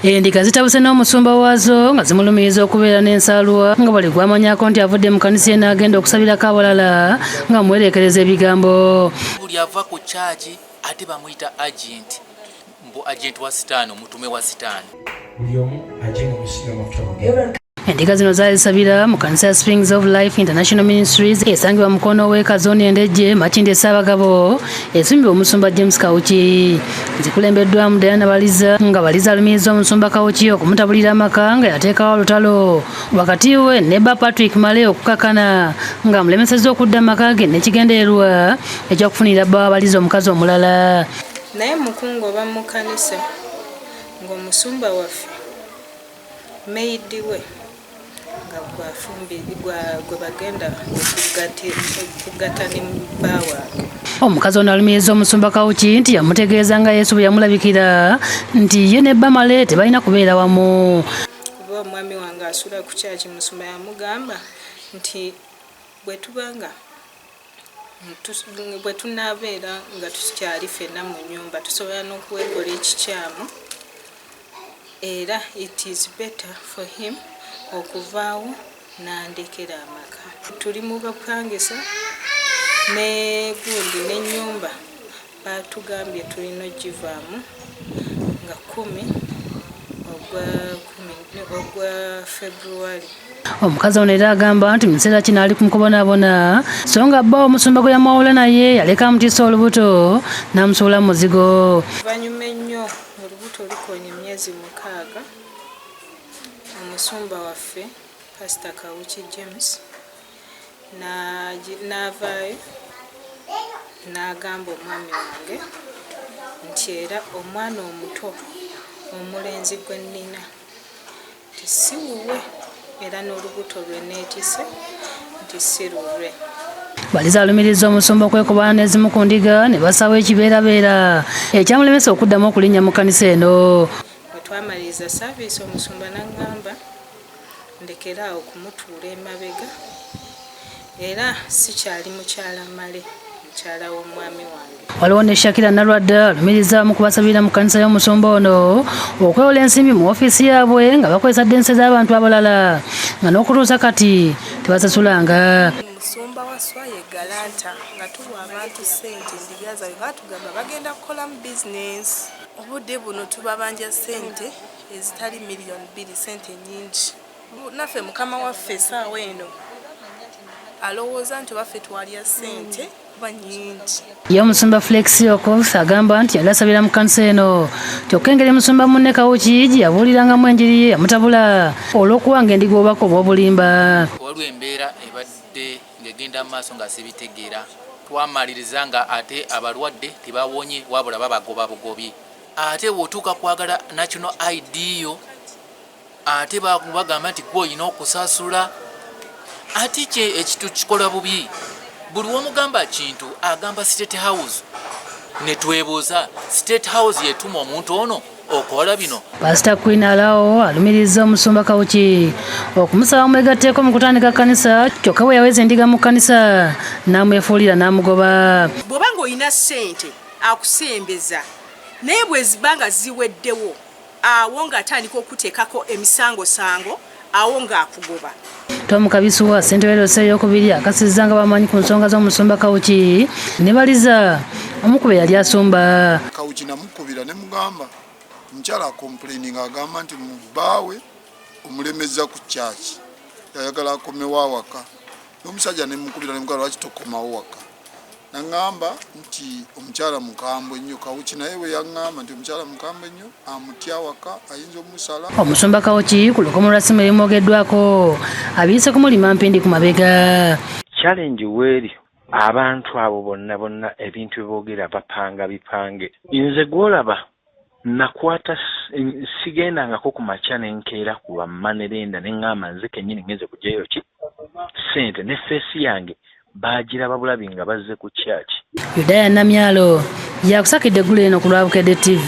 Endiga zitabuse n'omusumba waazo nga zimulumiriza okubeera n'ensaalwa nga buli gwamanyako nti avudde mu kanisa eno agenda okusabirako abalala nga muwereekereza ebigambo buli ava ku kyaki ate bamuyita agenti mbu agenti wa sitaani omutume wa sitaani endiga zino zaazisabira mu kanisa ya springs of life international ministries esangibwa mukono ow'eka zooni endejje makindi esaabagabo esimbibwa omusumba james kawuki zikulembeddwamu dayana baliza nga baliza alumiriza omusumba kawuki okumutabulira amaka nga yateekawo olutalo wakati we ne ba patrick male okukakana nga amulemesezza okudda amaka ge nekigendererwa ekyokufunira bba wabaliza omukazi omulala naye mukungu oba mukanisa ng'omusumba waffe Meyidi we nga gwafumbi gwe bagenda okugatta ne bba waabwe. Omukazi ono alumiriza omusumba Kawuki nti yamutegeeza nga Yesu bwe yamulabikira nti ye ne bba Male tebalina kubeera wamu. Kuba omwami wange asula ku kyaki musumba yamugamba nti bwe tuba nga bwe tunaabeera nga tukyali ffenna mu nyumba tusobola n'okwekola ekikyamu era it is better for him okuvaawo n'andekera amaka tuli mu bapangisa ne gundi n'ennyumba Baatugambye tulina okugivaamu nga kkumi ogwa kkumi ogwa February. Omukazi ono era agamba nti mu kiseera kino ali ku mukubonaabona so nga bba omusumba gwe yamwawula naye yaleka amutiisa olubuto n'amusuula mu muzigo. Oluvannyuma ennyo olubuto lukoonye emyezi mukaaga, omusumba waffe Pasita Kawuki James n'avaayo n'agamba omwami wange nti era omwana omuto omulenzi gwe nnina nti si wuwe era n'olubuto lwe neetise nti si lulwe baliza alumiriza omusumba okwekubana n'ezimu ku ndiga ne basawo ekibeerabeera ekyamulemesa okuddamu okulinnya mu kkanisa eno bwe twamaliriza saaviisi omusumba n'aŋŋamba ndekere awo kumutuula emabega era sikyali mukyala male mukyala w'omwami wange waliwo ne shakira nalwadde alumiriza mu kubasabira mu kanisa y'omusumba ono okwewola ensimbi mu ofiisi yaabwe nga bakozesa dense z'abantu abalala nga n'okutuusa kati tebasasulanga musumba wa swaye galanta nga tuwa abantu sente endiga zabe batugamba bagenda kukolamu bizinesi obudde buno tubabanja sente ezitali million bbiri sente nyingi naffe mukama waffe esaawa eno alowooza nti obaffe twalya sente kuba nyingi ye omusumba flexi okof agamba nti yali asabira mu kanisa eno kyokka engeri musumba munne kawuki gye yabuulirangamu enjiri ye yamutabula olw'okuwanga endiga obubaka obw'obulimba waliwo embeera ebadde ng'egenda mu maaso nga sibitegeera twamaliriza nga ate abalwadde tebawonye wabula babagoba bugobye ate bwotuuka kwagala national id yo ate bagamba nti gwe olina okusasula ate kye ekitu kikola bubi buli womugamba kintu agamba state house netwebuuza state house yetuma omuntu ono okola bino pasita queen alawo alumiriza omusumba kawuki okumusaba omwegatteeko mu kutandika kanisa kyokka bwe yaweza endiga mu kanisa n'amwefuulira n'amugoba bw'oba ng'olina ssente akusembeza naye bweziba nga ziweddewo awo ng'atandika okuteekako emisangosango awo ng'akugoba Tom Kabisuwa ssentebe lyose eyokubiri akasizza nga bamanyi ku nsonga z'omusumba Kawuki ne baliza omukube yali asumba Kawuki namukubira ne mugamba nkyala complaining agamba nti mubbaawe omulemezza ku kyaki yayagala akomewo awaka omusajja nemukubira nemugaa lwaki tokomawo waka naŋamba nti omukyala mukambwe nnyo kawuki naye bwe yaŋamba nti omukyala mukambwe nnyo amutya waka ayinza omusala omusumba kawuki ku lukomo lwa simu ebimwogeddwako abiyise kumulima mpindi ku mabega challenge weeri abantu abo bonna bonna ebintu beboogera bapanga bipange nze gwolaba Nnakwata sigendangako ku makya ne nkeera ku lwa mmanerenda ne ŋŋamba nze kennyini ngenze kuggyayo ki? ssente ne ffeesi yange baagiraba bulabi nga bazze ku church. Yudaya Namyalo yakusakidde eggulo lino ku lwa Bukedde TV.